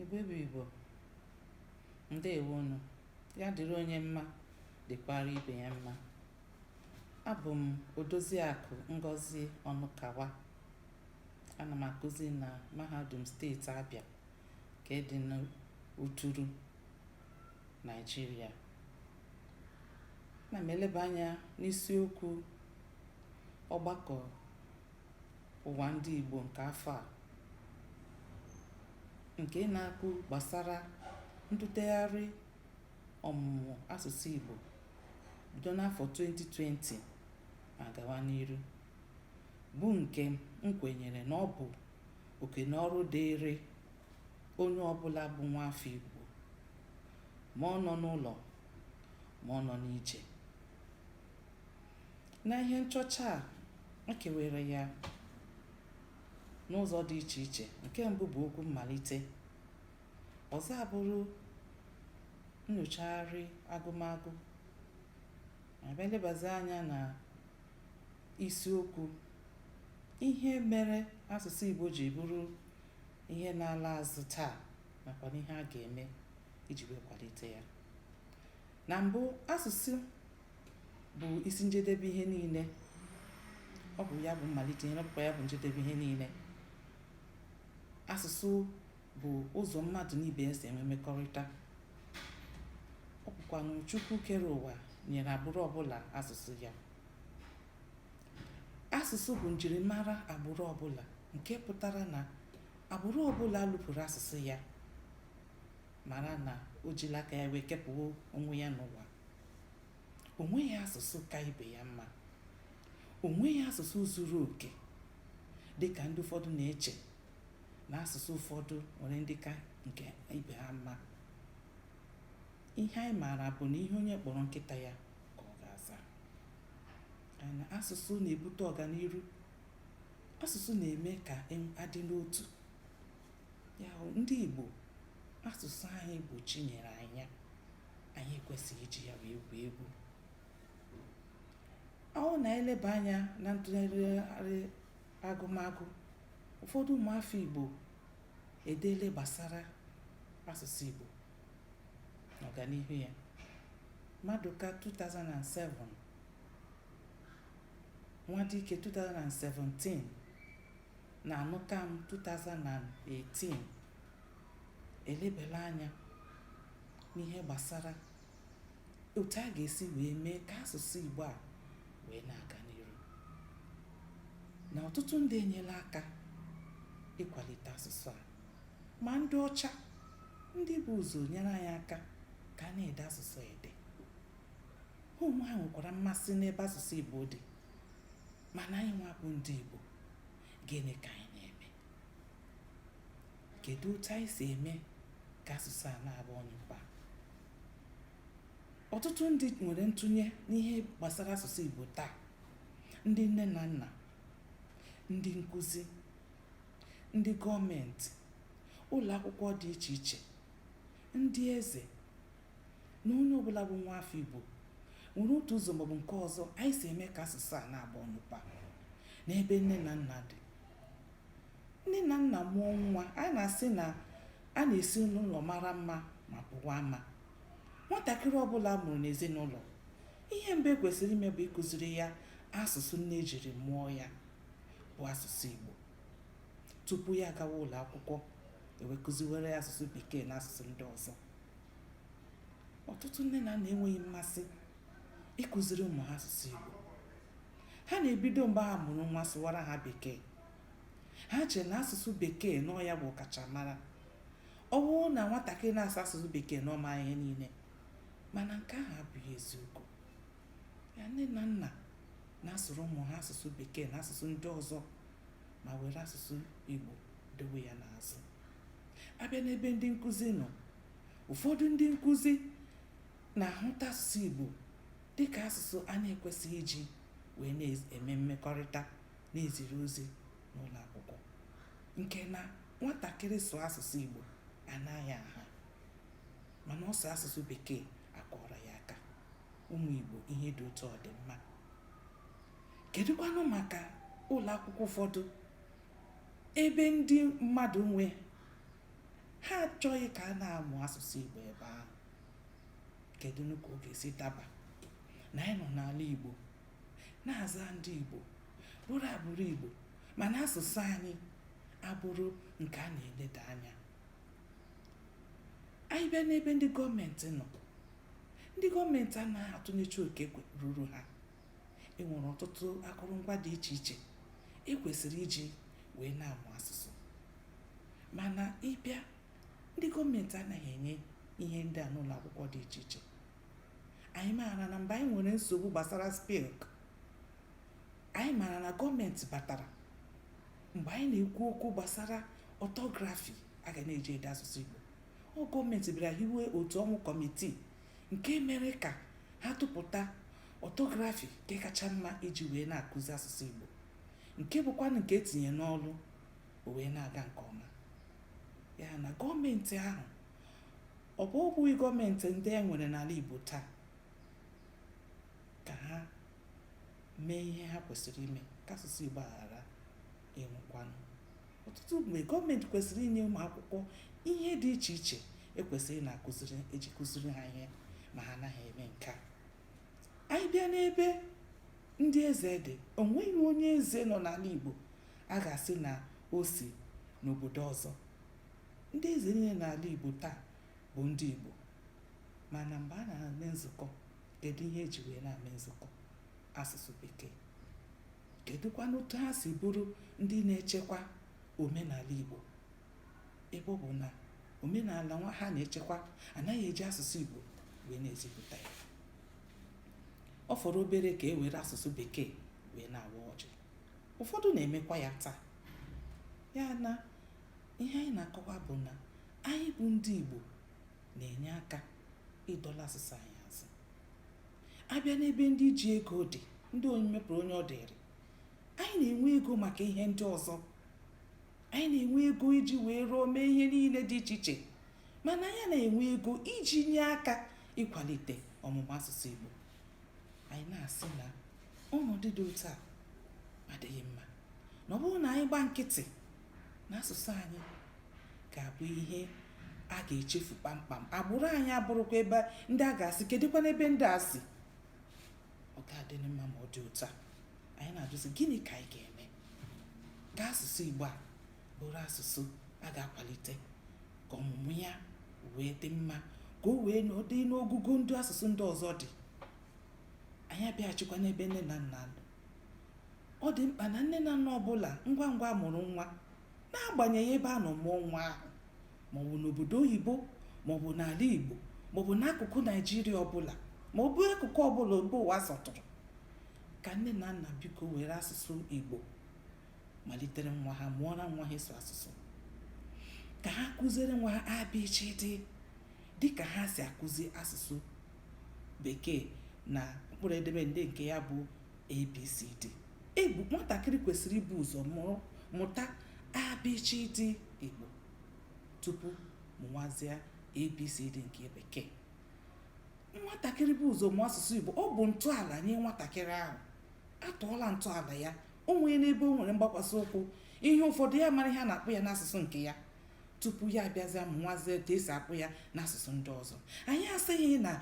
Igbo bụ Igbo, ndewonu, ya dịrị onye mma dịkwara ibe ya mma. Abụ m Odoziakụ Ngozi Ọnụkawa. Ana m akụzi na Mahadum Steeti Abịa nke dị n'Uturu, Naịjirịa. Ana m eleba anya n'isiokwu ọgbakọ ụwa ndị Igbo nke afọ a nke na-akwu gbasara ntụtegharị ọmụmụ asụsụ Igbo bido n'afọ 2020 ma gawa n'iru bụ nke m kwenyere na ọ bụ oke na ọrụ dịịrị onye ọbụla bụ nwa afọ Igbo ma ọ nọ n'ụlọ ma ọ nọ n'ije Na ihe nchọcha a, e kewere ya n'ụzọ dị iche iche. Nke mbụ bụ okwu mmalite. Ọzọ abụrụ nnyochagharị agụmagụ. A bịa lebazi anya na isiokwu ihe mere asụsụ Igbo ji bụrụ ihe na-ala azụ taa nakwa n'ihe a ga-eme iji wee kwalite ya. Na mbụ, asụsụ bụ isi njedebe ihe niile ọ bụ ya bụ mmalite ihe ọ bụkwa ya bụ njedebe ihe niile asụsụ bụ ụzọ mmadụ na ibe ya si enwe mmekọrịta ọ bụkwanụ chukwu kere ụwa nyere agbụrụ ọbụla asụsụ ya asụsụ bụ njirimara agbụrụ ọbụla nke pụtara na agbụrụ ọbụla lụpụrụ asụsụ ya mara na o jila aka ya wee kepụ onwe ya n'ụwa o nweghị asụsụ ka ibe ya mma o nweghị asụsụ zuru oke dị ka ndị ụfọdụ na-eche na asụsụ ụfọdụ nwere ndị ka nke ibe ha mma ihe anyị maara bụ na ihe onye kpọrọ nkịta ya ka ọ ga-aza na asụsụ na-ebute ọganiru asụsụ na-eme ka a dị n'otu ya ndị Igbo asụsụ anyị bụ chi nyere anyị anyị ekwesịghị iji ya wee egwu egwu ọ na-eleba anya na ntụlegharị agụmagụ ụfọdụ ụmụafọ Igbo edeele gbasara asụsụ Igbo na ọganihu ya Maduka 2007 Nwadike 2017 na Anụkam 2018 elebela anya n'ihe gbasara otu a ga-esi wee mee ka asụsụ Igbo a wee na-aga n'iru na ọtụtụ ndị enyela aka ịkwalite asụsụ a ma ndị ọcha ndị bu ụzọ nyere anyị aka ka a na-ede asụsụ ede ha onwe ha nwekwara mmasị n'ebe asụsụ Igbo dị mana anyị nwa bụ ndị Igbo gịnị ka anyị Kedu otu anyị si eme ka asụsụ a na-aba ọnyụpa? Ọtụtụ ndị nwere ntụnye n'ihe gbasara asụsụ Igbo taa, ndị nne na nna, ndị nkụzi, ndị gọọmenti, ụlọ akwụkwọ dị iche iche, ndị eze na onye ọbụla bụ nwa afọ Igbo nwere otu ụzọ maọbụ nke ọzọ anyị si eme ka asụsụ a na-aba ọnyụpa n'ebe nne na nna dị Nne na nna mụọ nwa, a na-asị na a na-esi n'ụlọ mara mma ma pụwa ama. Nwatakịrị ọbụla a mụrụ n'ezinụlọ, ihe mbụ e kwesịrị ime bụ ịkụziri ya asụsụ nne e jiri mụọ ya bụ asụsụ Igbo. Tupu ya agawa ụlọ akwụkwọ, e wee kụziwere ya asụsụ Bekee na asụsụ ndị ọzọ. Ọtụtụ nne na nna enweghị mmasị ịkụziri ụmụ ha asụsụ Igbo. Ha na-ebido mgbe ha mụrụ nwa sụwara ha Bekee. ha chere na asụsụ bekee na ọ ya bụ ọkachamara ọ bụrụ na nwatakịrị na-asụ asụsụ bekee na ọ ma ihe niile mana nke ahụ abụghị eziokwu ya nne na nna na-asụrụ ụmụ ha asụsụ bekee na asụsụ ndị ọzọ ma were asụsụ igbo dowe ya n'azụ a bịa n'ebe ndị nkụzi nọ ụfọdụ ndị nkụzi na-ahụta asụsụ igbo dịka asụsụ a na-ekwesịghị iji wee na-eme mmekọrịta na-eziri ozi n'ụlọ akwụkwọ nke na nwatakịrị sụọ asụsụ Igbo a naa ya nha mana ọ sụọ asụsụ Bekee a kụọrọ ya aka ụmụ Igbo ihe dị otu a ọ dị mma kedụkwanụ maka ụlọ akwụkwọ ụfọdụ ebe ndị mmadụ nwe ha achọghị ka a na-amụ asụsụ Igbo ebe ahụ kedụnụ ka ọ ga-esi daba na anyị nọ n'ala Igbo na-aza ndị Igbo bụrụ agbụrụ Igbo mana asụsụ anyị abụrụ nke a na-eleda anya anyị bịa n'ebe ndị gọọmenti nọ ndị gọọmenti anaghị atụnyecha oke ruru ha e nwere ọtụtụ akụrụngwa dị iche iche e kwesịrị iji wee na-amụ asụsụ mana ị bịa ndị gọọmenti anaghị enye ihe ndị a n'ụlọ akwụkwọ dị iche iche anyị maara na mgbe anyị nwere nsogbu gbasara SPILC anyị maara na gọọmenti batara mgbe anyị na-ekwu okwu gbasara ọtọgrafi a ga na-eji ede asụsụ Igbo ọ gọọmenti bịara hiwe otu ọnwụ kọmitii nke mere ka ha tụpụta ọtọgrafi nke kacha mma iji wee na-akụzi asụsụ Igbo nke bụkwanụ nke e tinye n'ọrụ o wee na-aga nke ọma ya na gọọmenti ahụ Ọ bụ ọ bụghị gọọmenti ndị e nwere n'ala Igbo taa ka ha mee ihe ha kwesịrị ime ka asụsụ Igbo ghara ịnwụkwanụ ọtụtụ mgbe gọọmenti kwesịrị inye ụmụ akwụkwọ ihe dị iche iche e kwesịrị na-akụziri eji kụziri ha ihe ma ha anaghị eme nke a anyị bịa n'ebe ndị eze dị o nweghị onye eze nọ n'ala Igbo a ga-asị na o si n'obodo ọzọ Ndị eze niile n'ala Igbo taa bụ ndị Igbo mana mgbe a na-eme nzukọ kedu ihe e ji wee na-eme nzukọ asụsụ bekee kedụkwanụ otu ha si bụrụ ndị na-echekwa omenala Igbo ebe ọ bụ na omenala nwa ha na-echekwa anaghị eji asụsụ Igbo wee na-ezipụta ya ọ fọrọ obere ka e were asụsụ bekee wee na-awa ọjị ụfọdụ na-emekwa ya taa ya na Ihe anyị na-akọwa bụ na anyị bụ ndị Igbo na-enye aka ịdọla asụsụ anyị azụ. A bịa n'ebe ndị ji ego dị, ndị onye mepụrụ onye ọ dịrị, anyị na-enwe ego maka ihe ndị ọzọ. Anyị na-enwe ego iji wee rụọ mee ihe niile dị iche iche. Mana anyị na-enwe ego iji nye aka ịkwalite ọmụmụ asụsụ Igbo. Anyị na-asị na ọnọdụ dị otu a adịghị mma. Na ọ bụrụ na anyị gba nkịtị na asụsụ anyị ga-abụ ihe a ga-echefu kpamkpam agbụrụ anyị abụrụkwa ebe ndị a ga-asị kedụkwanụ ebe ndị a si ọ ga-adị mma ma ọ dị otu a anyị na-ajụzi gịnị ka anyị ga-eme ka asụsụ Igbo a bụrụ asụsụ a ga-akwalite ka ọmụmụ ya wee dị mma ka o wee nọdụ n'ogugo ndị asụsụ ndị ọzọ dị anyị abịaghachikwa n'ebe nne na nna nọ ọ dị mkpa na nne na nna ọbụla ngwa ngwa a mụrụ nwa n'agbanyeghị ebe a nọ mụọ nwa ahụ maọbụ n'obodo oyibo maọbụ n'ala igbo maọbụ n'akụkụ naijiria ọbụla ma ọ bụ akụkụ ọbụla ebe ụwa sọtụrụ ka nne na nna biko were asụsụ igbo malitere nwa ha mụọra nwa ha ịsụ asụsụ ka ha kụziere nwa ha abịchịdị dịka ha si akụzi asụsụ bekee na mkpụrụ edemede nke ya bụ abcd ebe nwatakịrị kwesịrị ibu ụzọ mụrụ mụta abchd igbo tupu mụwazịa abcd nke bekee nwatakịrị bu ụzọ mụọ asụsụ igbo ọ bụ ntọala nye nwatakịrị ahụ a tọọla ntọala ya o nwee n'ebe o nwere mgbakwasị ụkwụ ihe ụfọdụ ya mara ihe a na-akpọ ya n'asụsụ nke ya tupu ya abịazi mụwazi etu esi akpọ ya n'asụsụ ndị ọzọ anyị asịghị na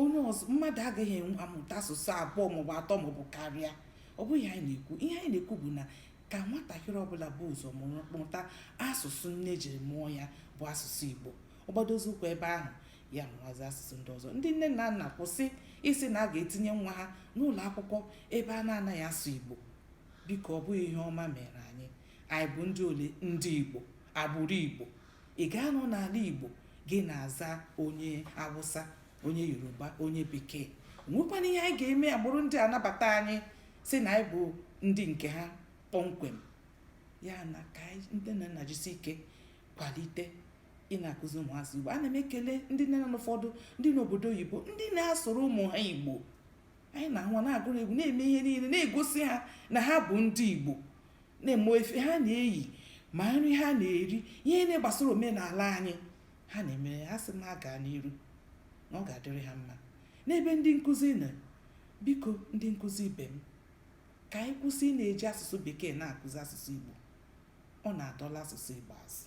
onye ọzọ mmadụ agaghị amụta asụsụ abụọ maọbụ atọ maọbụ karịa ọ bụghị ihe anyị na-ekwu ihe anyị na-ekwu bụ na ka nwatakịrị ọbụla bu ụzọ mụrụ mụta asụsụ nne jiri mụọ ya bụ asụsụ igbo ọ gbadozi ụkwụ ebe ahụ ya mụwazi asụsụ ndị ọzọ ndị nne na nna kwụsị ịsị na a ga-etinye nwa ha n'ụlọ akwụkwọ ebe a na-anaghị asụ igbo biko ọ bụghị ihe ọma mere anyị anyị bụ ndị ole ndị igbo agbụrụ igbo ị ga-anọ n'ala igbo gị na-aza onye awụsa onye yoruba onye bekee nwekwana ihe anyị ga-eme agbụrụ ndị a anabata anyị sị na anyị bụ ndị nke ha kpọmkwem ya na ka ndị nne na nna jisi ike kwalite ị na-akụzi ụmụazị igbo ana m ekele ndị nne na ụfọdụ ndị n'obodo oyibo ndị na-asụrụ ụmụ ha igbo anyị na-ahụ na-agụrụ egwu na-eme ihe niile na-egosi ha na ha bụ ndị igbo n'ime efe ha na-eyi ma nri ha na-eri ihe niile gbasara omenala anyị ha na-emere ha asị na ha gaa n'iru na ọ ga-adịrị ha mma n'ebe ndị nkụzi nọ biko ndị nkụzi ibe m ka anyị kwụsị ị na-eji asụsụ bekee na-akụzi asụsụ igbo ọ na-adọla asụsụ igbo azụ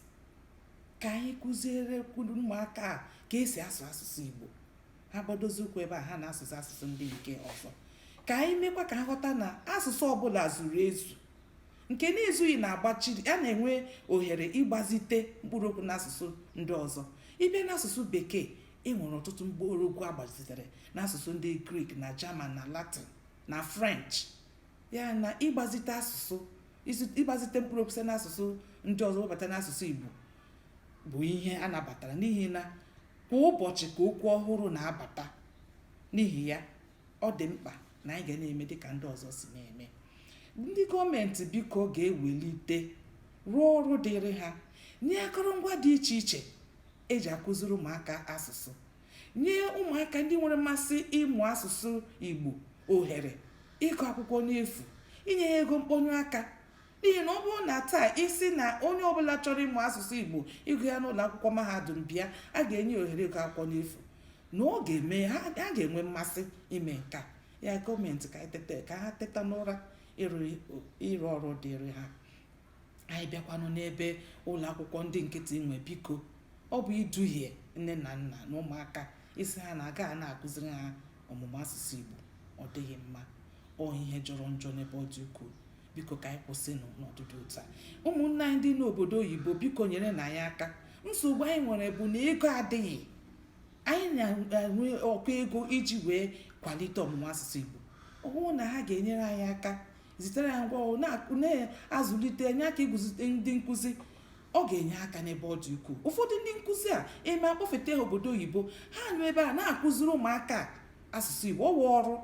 ka anyị kụzierekwa ụmụaka a ka esi asụ asụsụ igbo ha gbadozi ụkwụ ebe a ha na-asụzi asụsụ ndị nke ọzọ ka anyị mekwa ka ha ghọta na asụsụ ọbụla zuru ezu nke na-ezughị na-agbaziri a na-enwe ohere ịgbazite mkpụrụ okwu n'asụsụ ndị ọzọ ị bịa n'asụsụ bekee e nwere ọtụtụ mkpụrụ okwu agbazitere n'asụsụ ndị grik na jaman na latin na french ya na ịgbazite asụsụ ịgbazite mkpụrụ okwu site n'asụsụ ndị ọzọ webata n'asụsụ igbo bụ ihe a nabatara n'ihi na kwa ụbọchị ka okwu ọhụrụ na-abata n'ihi ya ọ dị mkpa na anyị ga na-eme dịka ndị ọzọ si na-eme ndị gọọmenti biko ga-ewelite rụọ ọrụ dịrị ha nye akụrụngwa dị iche iche eji akụziri ụmụaka asụsụ nye ụmụaka ndị nwere mmasị ịmụ asụsụ igbo ohere ịgụ akwụkwọ n'efu inye ha ego mkpọnye aka n'ihi na ọ bụrụ na taa ị sị na onye ọbụla chọrọ ịmụ asụsụ igbo ịgụ ya n'ụlọ akwụkwọ mahadum bịa a ga-enye ohere ịgụ akwụkwọ n'efu na ọ ga-eme ha ga-enwe mmasị ime nke a ya gọọmenti ka ha teta n'ụra ịrụ ọrụ dịrị ha anyị bịakwanụ n'ebe ụlọ akwụkwọ ndị nkịtị nwe biko ọ bụ iduhie nne na nna na ụmụaka ịsị ha na a ga na-akụziri ha ọmụmụ asụsụ igbo ọ dịghị mma ọ ihe jọrọ njọ n'ebe ọ dị ukwuu biko ka anyị kwụsịnụ n'ọdụdụ ụta ụmụnne anyị ndị n'obodo oyibo biko nyerenụ anyị aka nsogbu anyị nwere bụ na ego adịghị anyị na-enwe ụkọ ego iji wee kwalite ọmụmụ asụsụ igbo ọ bụrụ na ha ga-enyere anyị aka zitere anyị ngwa ọrụ na-azụlite enye aka iguzite ndị nkụzi ọ ga-enye aka n'ebe ọ dị ukwuu ụfọdụ ndị nkụzi a e mee a kpọfete ha obodo oyibo ha nọ ebe a na-akụziri ụmụaka asụsụ igbo ọ wụ ọrụ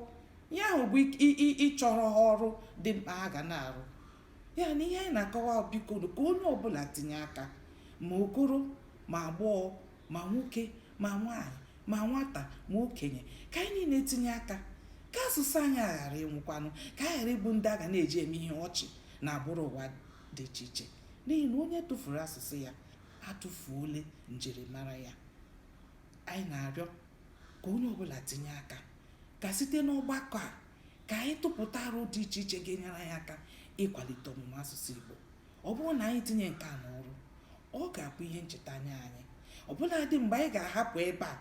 ihe ahụ bụ ịchọrọ ha ọrụ dị mkpa ha ga na-arụ ya na ihe anyị na-akọwa bikonụ ka onye ọbụla tinye aka ma okoro ma agbọghọ ma nwoke ma nwaanyị ma nwata ma okenye ka anyị niile tinye aka ka asụsụ anyị aghara ịnwụkwanụ ka anyị ghara ịbụ ndị a ga na-eji eme ihe ọchị n'agbụrụ ụwa dị iche iche n'ihi na onye tụfuru asụsụ ya atụfuole njirimara ya anyị na-arịọ ka onye ọbụla tinye aka ka site n'ọgbakọ a ka anyị tụpụta aro dị iche iche ga-enyere anyị aka ịkwalite ọmụmụ asụsụ Igbo ọ bụrụ na anyị tinye nke a n'ọrụ ọ ga-abụ ihe ncheta nye anyị ọbụladị mgbe anyị ga-ahapụ ebe a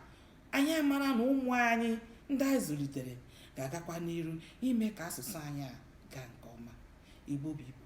anyị amara na ụmụ anyị ndị anyị zụlitere ga-agakwa n'iru ime ka asụsụ anyị a gaa nke ọma Igbo bụ Igbo